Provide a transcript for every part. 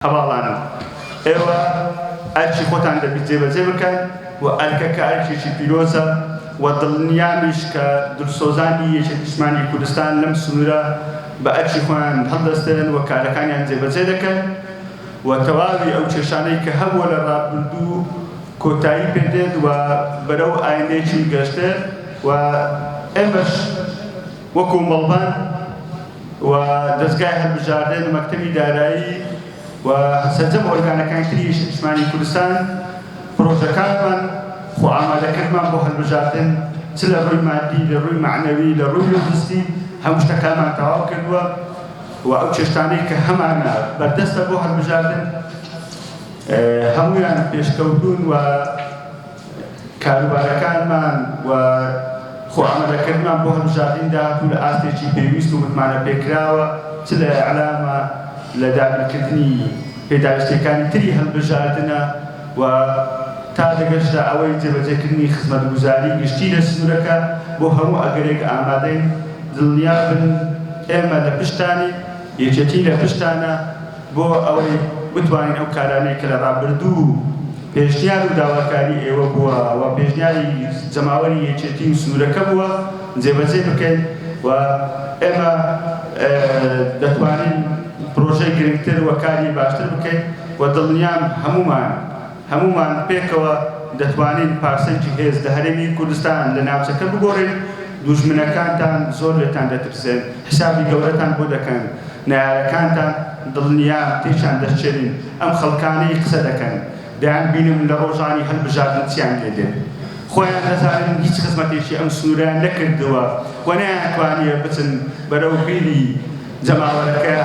هەڤاڵانم، ئێوە ئەرکی خۆتان دەبی جێبەجێ بکەن و ئەرکەکە ئەرکێکی پیرۆزە و دڵنیامش کە دلسۆزانی یەکێتی نیشتمانی کوردستان لەم سنوورە بە ئەرکی خۆیان هەڵدەستن و کارەکانیان جێبەجێ دەکەن و تەواوی ئەو کێشانەی کە هەبووە لە ڕابردوو کۆتایی پێ دێت و بەرەو ئایندەیەکی گەشتێ و ئێمەش وەکوو مەڵبەند و دەزگای هەلبژاردە لە مەکتەبی دارایی و سەرجەم ئۆرگانەکانی تری نیشتمانی کوردستان پرۆژەکانمان خۆ ئامادەکردمان بۆ هەلبژاردن چ لە ڕووی مادی لە ڕووی معنەوی لە ڕووی لۆجستی هەموو شتەکانمان تەواو کردووە و ئەو چێشتانەی کە هەمانە بەردەستە بۆ هەلبژاردن هەمویان پێشکەوتون و کاروبارەکانمان و خۆ ئامادەکردنمان بۆ هەڵبژاردنی داهاتوو لە ئاستێکی پێویست و متمانە پێکراوە، چ لە ئیعلامە، لە دابینکردنی پێداویستییەکانی تری هەڵبژاردنە و تا دەگەشتە ئەوەی جێبەجێکردنی خزمەتگوزاری گشتی لە سنوورەکە، بۆ هەموو ئەگەرێک ئامادەین، دڵنیابن ئێمە لە پشتتانین، یەکێتی لە پشتتانە. بۆ ئەوەی بتوانین ئەو کارانەی کە لە ڕابردوو و پێشنیار و داواکاری ئێوە بووە و پێشنیاری جەماوەری یەکێتی و سنوورەکە بووە جێبەجێ بکەین و ئێمە دەتوانین پرۆژەی گرنگتر و کاری باشتر بکەین و دڵنیام هەموومان هەموومان پێکەوە دەتوانین پارسەنگی هێز لە هەرێمی کوردستان لە ناوچەکە بگۆڕین، دوژمنەکانتان زۆر لێتان دەترسێن، حیسابی گەورەتان بۆ دەکەن، نەیارەکانتان دڵنیام تێکیان دەشچێنین، ئەم خەڵکانەی قسە دەکەن دەیانبینم لە ڕۆژانی هەلبژاردن چیان لێ دێت، خۆیان دەزانن هیچ خزمەتێکی ئەم سنوورەیان نەکردووە و نەیانتوانییە بچن بەرەو بیری جەماوەرەکە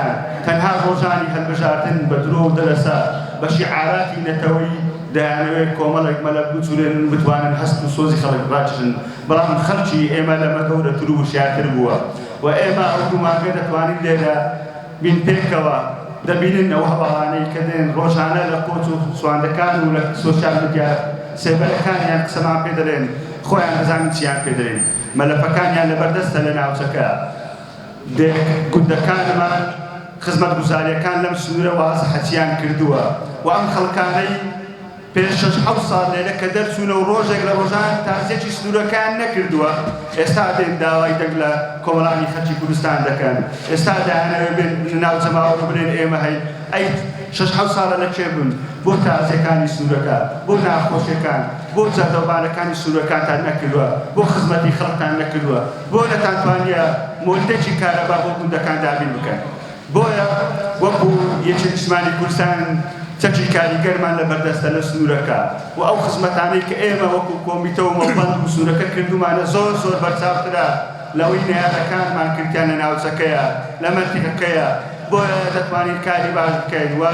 تەنها ڕۆژانی هەلبژاردن بە درۆ و دەلەسە بە شیعاراتی نەتەوەیی دەیانەوێت کۆمەڵێک مەلەک بجولێنن و بتوانن هەست و سۆزی خەڵک ڕاکشن بەڵام خەڵکی ئێمە لەمە گەورەتر و وشیارتر بووە و ئێمە ئەو دوو مانگە دەتوانین لێرە بین پێکەوە دەبینن ئەو هەواڵانەی کە دێن ڕۆژانە لە قۆچ و سواندەکان و لە سۆشیال میدیا سێبەرەکانیان قسەمان پێ دەلێن خۆیان دەزانن چیان پێ دەلێن مەلەفەکانیان لەبەردەستە لە ناوچەکە دێ گوندەکانمان خزمەتگوزاریەکان لەم سنورە واز حەچیان کردوە و ئەم خەڵکانەی پێش شەش حەوت ساڵ لێرە کە دەرچونە و ڕۆژێک لە ڕۆژان تازیەکی سنورەکان نەکردوە ئێستا دێن داوای دەنگ لە کۆمەڵانی خەلکی کوردستان دەکەن ئێستا دایانەوێ بێن بنە ناو جەماوەر و بلێن ئێمە هەین ئەی شەش حەوت ساڵە لە کێ بوون بۆ تازیەکانی سنورەکە بۆ ناخۆشیەکان بۆ جادەوبانەکانی سنورەکانتان نەکردوە بۆ خزمەتی خەڵکتان نەکردوە بۆ نەتانتوانیە مۆلیدەکی کارەبا بۆ گوندەکان دابین بکەن؟ بۆیە وەکو یەکێ نیشتمانی کوردستان چەکی کاریگەرمان لە بەردەستە لە سنوورەکە و ئەو خزمەتانەی کە ئێمە وەکو کۆمیتە و مەڵبەند و سنوورەکە کردومانە زۆر زۆر بەرچاوترە لەوەی نەیارەکانمان کردیان لە ناوچەکەیە لە مەنتیقەکەیە بۆیە دەتوانین کاری باش بکەین و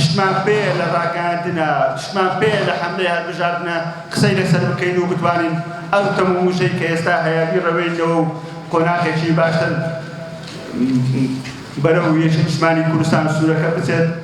شتمان پێیە لە ڕاگەیاندنە شتمان پێیە لە حەملەی هەلبژاردنە قسەی لەسەر بکەین و بتوانین ئەو تەم و وشەی کە ئێستا هەیە بیڕەوێنینەوە و قۆناخێکی باشتر بەرەو یەکێتیشمانی کوردستان سوورەکە بچێت.